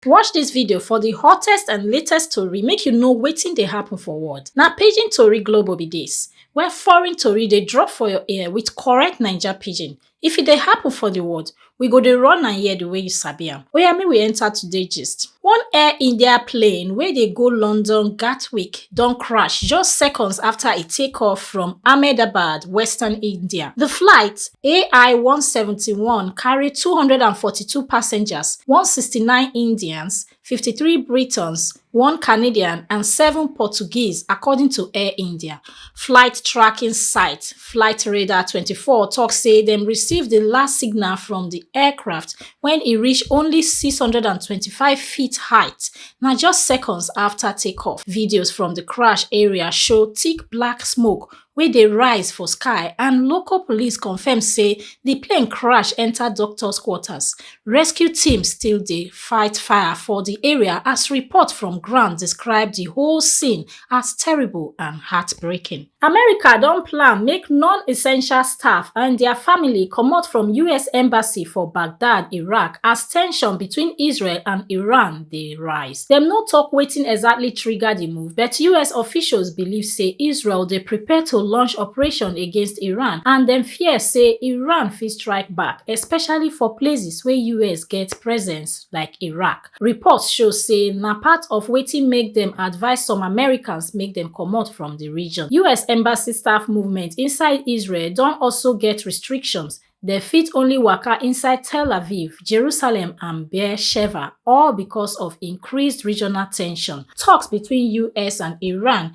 Watch dis video for di hottest and latest tori make you know wetin dey happen for world. Na Pidgin Tori Global be dis, where foreign tori dey drop for your ear with correct Naija pidgin. If e dey happen for di world, we go dey run am here di way you sabi am. Oya make we enter today gist. One Air India plane wey dey go London Gatwick don crash just seconds after e take off from Ahmedabad, western India. The flight AI-171 carry 242 passengers, 169 Indians, 53 Britons, one Canadian and seven Portuguese, according to Air India. Flight tracking site Flight Radar 24 talk say dem receive the last signal from the aircraft when e reach only 625 feet height Na just seconds afta take-off, videos from di crash area show thick black smoke wey dey rise for sky and local police confirm say di plane crash enta doctors quarters. Rescue teams still dey fight fire for di area as report from ground describe di whole scene as terrible and heartbreaking. America don plan make non-essential staff and their family comot from US embassy for Baghdad, Iraq as tension between Israel and Iran dey rise. Dem no talk wetin exactly trigger the move, but US officials believe say Israel dey prepare to launch operation against Iran and dem fear say Iran fit strike back, especially for places wey US get presence like Iraq. reports show say na part of wetin make dem advise some americans make dem comot from di region us embassy staff movement inside israel don also get restrictions dem fit only waka inside tel aviv jerusalem and beer sheva all becos of increased regional ten sion toks between us and iran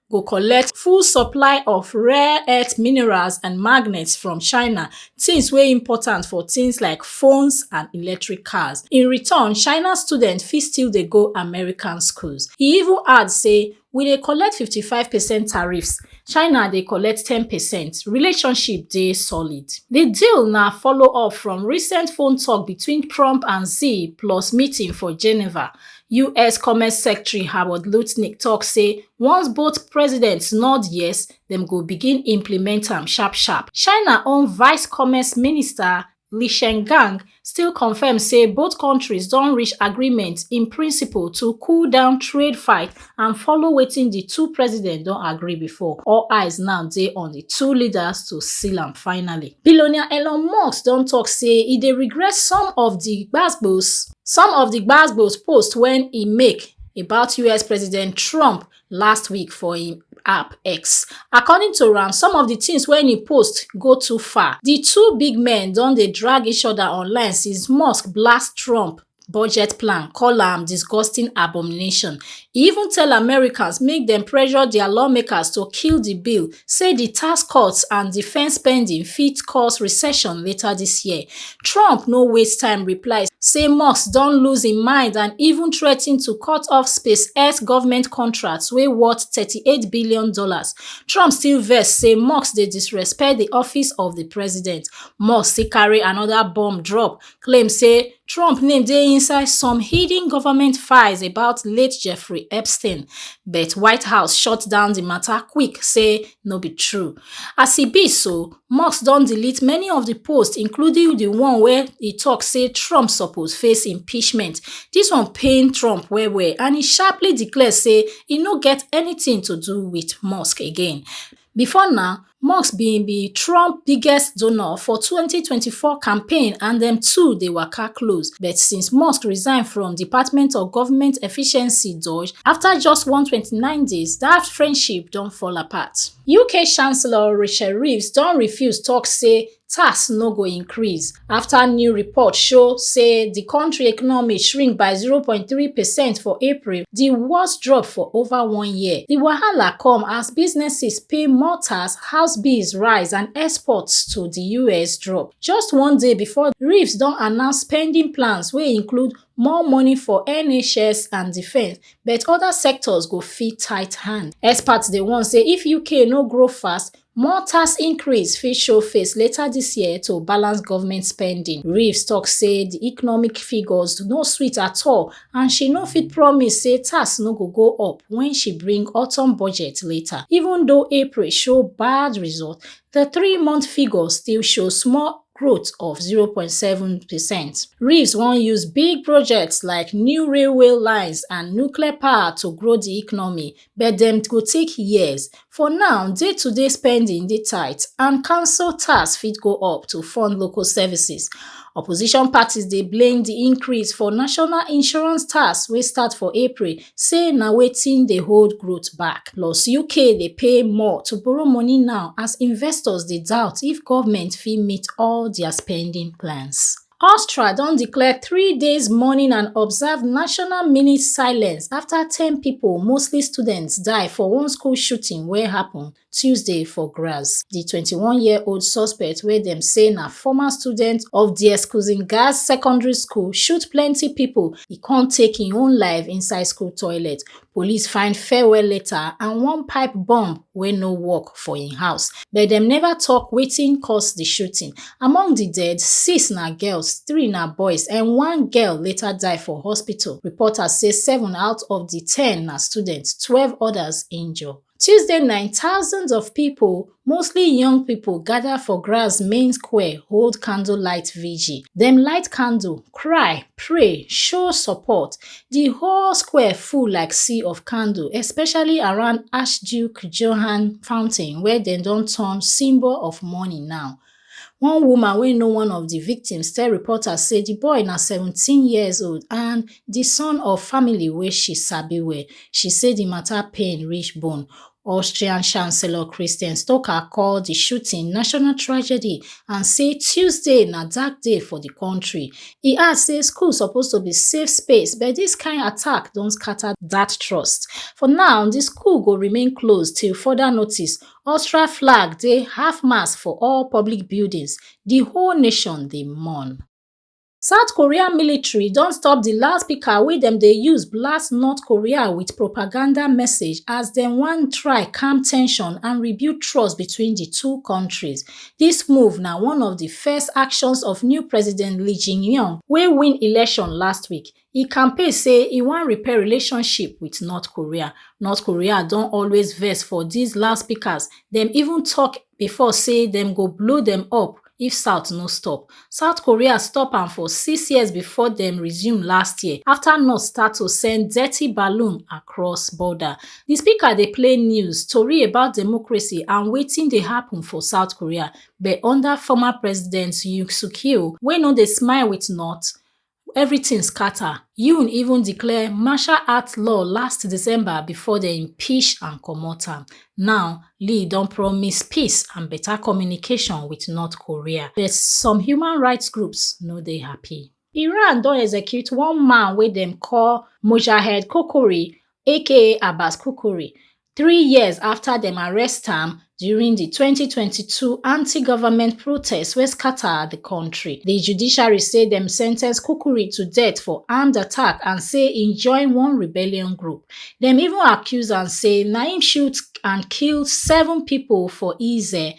go collect full supply of rare earth minerals and magnets from China, things wey important for things like phones and electric cars. In return, China students fit still dey go American schools. E even add say, we dey collect 55 percent tariffs, China dey collect 10 percent, relationship dey solid. Di deal na follow up from recent phone talk between Trump and Xi plus meeting for Geneva. us commerce secretary howard lutnick tok say once both presidents nod yes dem go begin implement am sharp sharp china own vice commerce minister li shengang still confirm say both countries don reach agreement in principle to cool down trade fight and follow wetin di two presidents don agree before all eyes now dey on di two leaders to seal am finally billionaire elon musk don tok say e dey regret some of di gbasgbos some of di gbasgbos posts wey e make about us president trump last week for im app x according to am some of di tins wey e post go too far di two big men don dey drag each oda online since musk blast trump budget plan call am disgusting abomination e even tell americans make dem pressure dia lawmakers to kill di bill say di tax cuts and defence spending fit cause recession later dis year trump no waste time reply say musk don lose im mind and even threa ten to cut off spacex government contracts wey worth thirty-eight billion dollars trump still vex say musk dey disrespect di office of di president musk still carry anoda bomb drop claim say Trump name dey inside some hidden government files about late Jeffrey Epstein, but White House shut down the matter quick, say no be true. As e be so, Musk don delete many of the posts, including the one where he talk say Trump suppose face impeachment. This one pain Trump well well, and he sharply declare say he no get anything to do with Musk again. Before now, Musk bin be Trump biggest donor for 2024 campaign and dem two dey waka close. But since Musk resign from Department of Government Efficiency (DOGE) after just 129 days, that friendship don fall apart. UK Chancellor Rachel Reeves don refuse talk say tax no go increase after new report show say di kontri economy shrink by 0.3 percent for april di worst drop for over one year di wahala come as businesses pay more tax house bills rise and exports to di us drop just one day before reeves don announce spending plans wey include more money for NHS and defence, but other sectors go fit tight hand. Experts dey warn say if UK no grow fast, More tax increase fit show face later dis year to balance government spending. Reeves tok say di economic figures no sweet at all and she no fit promise say tax no go go up when she bring autumn budget later. Even though April show bad result, di three-month figures still show small growth of 0.7 percent. Reeves wan use big projects like new railway lines and nuclear power to grow di economy, but dem go take years for now day-to-day spending dey tight and council tax fit go up to fund local services opposition parties dey blame di increase for national insurance tax wey start for april say na wetin dey hold growth back plus uk dey pay more to borrow money now as investors dey doubt if goment fit meet all dia spending plans. Austria don declare three days mourning and observe national mini silence after 10 people, mostly students, die for one school shooting wey happen Tuesday for Graz. The 21-year-old suspect wey dem say na former student of the Eskusin Gaz Secondary School shoot plenty people, e come take im own life inside school toilet. Police find farewell letter and one pipe bomb wey no work for im house, but dem never talk wetin cause di shooting. Among di dead, six na girls, three na boys and one girl later die for hospital. Reports say seven out of di ten na students, twelve odas injure. tuesday night thousands of pipo mostly young pipo gada for graz main square hold candlelight vigil dem light candle cry pray show support di whole square full like sea of candle especially around archduke johann fountain wey dem don turn symbol of mourning now One woman wey know one of di victims tell reporters say di boy na seventeen years old and di son of family wey she sabi well. She say di mata pain reach bone. Austrian Chancellor Christian Stoker call di shooting national tragedy and say Tuesday na dark day for di kontri. E add say school suppose to be safe space but dis kain attack don scata dat trust. For now, di school go remain closed till further notice Austria flag dey half mast for all public buildings, di whole nation dey mourn. South Korea military don stop di loudspeaker wey dem dey use blast North Korea with propaganda message as dem wan try calm tension and rebuild trust between di two countries. Dis move na one of di first actions of new president Lee Jae-myung wey win election last week e campaign say e wan repair relationship wit north korea north korea don always vex for dis loudspeakers dem even tok bifor say dem go blow dem up if south no stop south korea stop am for six years bifor dem resume last year afta north start to send dirty balloon across border di speaker dey play news tori about democracy and wetin dey happun for south korea but under former president yoon suk yeol wey no dey smile wit north evritin scata yoon even declare martial art law last december bifor dem impeach and comot am now lee don promise peace and beta communication wit north korea but some human rights groups no dey happy iran don execute one man wey dem call mojahed kokori aka abbas kokori three years afta dem arrest am during di 2022 antigovment protests wey scata di kontri di judiciary say dem sen ten ce kukuri to death for armed attack and say e join one rebellion group dem even accuse am say na im shoot and kill seven pipo for eze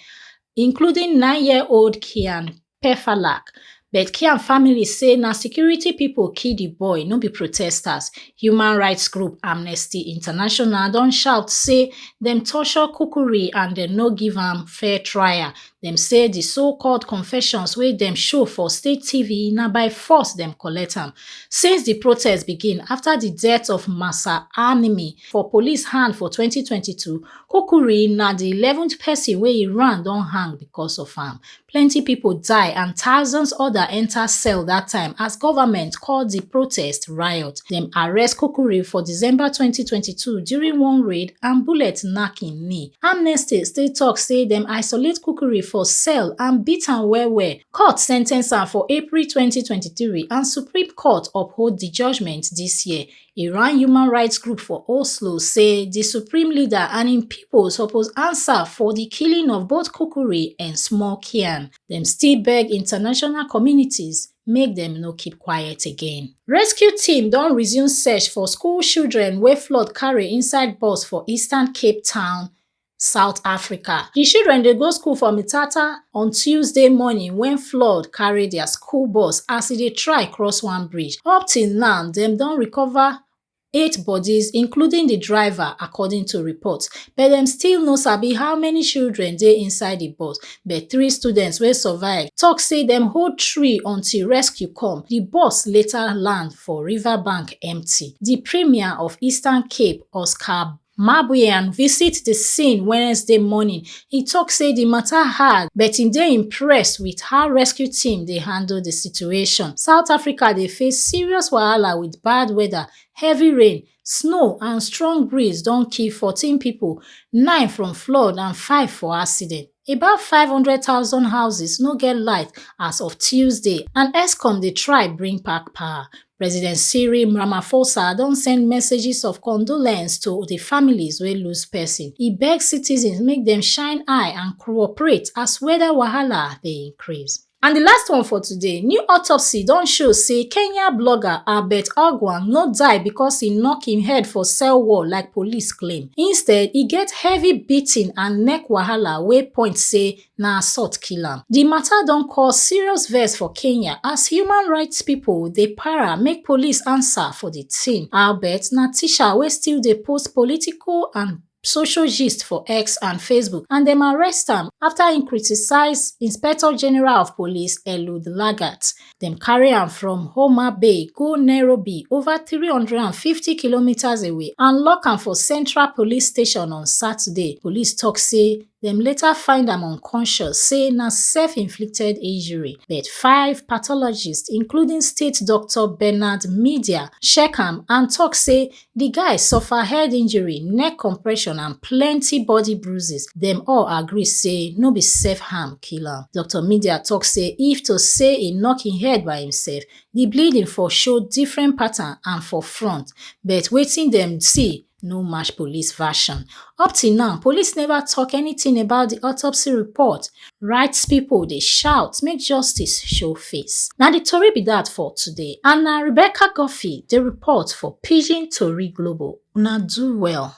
including nineyearold kian Pefalak, but Kian family say na security people kill the boy, no be protesters. Human rights group Amnesty International don shout say dem torture Kukuri and dem no give am fair trial. Dem say the so-called confessions wey dem show for state TV na by force dem collect am. Since the protest begin after the death of Masa Animi for police hand for 2022, Kukuri na the 11th person wey Iran don hang because of am. plenty pipo die and thousands oda enta cell dat time as goment call di protest riot dem arrest kukuri for december twenty twenty two during one raid and bullet knack im knee amnesty still tok say dem isolate kukuri for cell and beat am well-well court sen ten ce am for april twenty twenty three and supreme court uphold di judgement dis year Iran human rights group for Oslo say the supreme leader and im people suppose answer for the killing of both Kukuri and Small Kian. Dem still beg international communities make dem no keep quiet again. Rescue team don resume search for school children wey flood carry inside bus for eastern Cape Town south africa di children dey go school for mthatha on tuesday morning wen flood carry dia school bus as e dey try cross one bridge up till now dem don recover eight bodies including di driver according to reports but dem still no sabi how many children dey inside di bus but three students wey survive tok say dem hold tree until rescue come di bus later land for riverbank empty di premier of eastern cape oscar mabuyan visit di scene wednesday morning e tok say di mata hard but e dey impressed wit how rescue team dey handle di situation south africa dey face serious wahala wit bad weather heavy rain snow and strong breeze don kill fourteen pipo nine from flood and five for accident About 500,000 houses no get light as of Tuesday and ESCOM dey try bring back power. President Cyril Ramaphosa don send messages of condolence to the families wey lose person. E beg citizens make dem shine eye and cooperate as weather wahala dey increase. And the last one for today, new autopsy don show say Kenya blogger Albert Ogwang no die because he knock him head for cell wall like police claim. Instead, he get heavy beating and neck wahala wey point say na assault kill am. The matter don cause serious vex for Kenya as human rights people dey para make police answer for the thing. Albert na teacher wey still dey post political and social gist for x and facebook and dem arrest am afta im criticise inspector general of police eliud lagat dem carry am from homa bay go nairobi over 350 kilometres away and lock am for central police station on saturday police tok say dem later find am unconscious say na self-inflicted injury but five pathologists including state doctor bernard media check am and tok say di guy suffer head injury neck compression and plenty body bruises dem all agree say no be self-harm kill am doctor media tok say if to say e knock im head by imsef di bleeding for show different pattern and for front but wetin dem see no match police version up till now police neva tok anytin about di autopsy report rights pipo dey shout make justice show face na di tori be dat for today and na rebecca guffey dey report for pidgin tori global una do well